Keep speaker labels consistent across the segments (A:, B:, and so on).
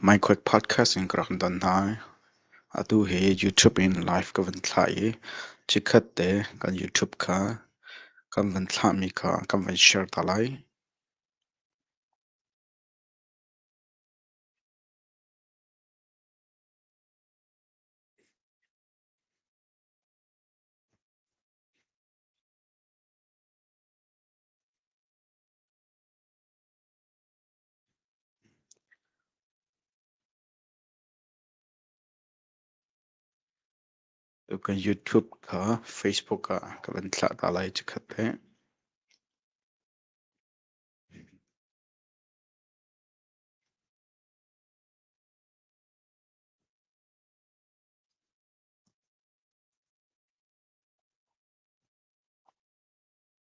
A: Maikhawt podcast in ka rak don hna. Atu hi YouTube in live ka vun thlah i chikkhat te kan YouTube kha kan vun thlahmi kha kan vun share ta lai. Kan YouTube kha Facebook ah ka van thlah ta lai cikhat he.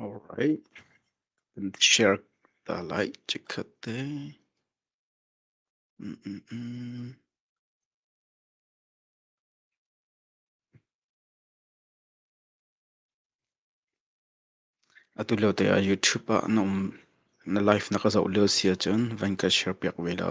A: Alright, kan share ta lai chikkhat te. Mm -mm -mm. Atu lio te ah YouTube ah na um na live na ka zoh lio si ahcun van ka share piak ve la.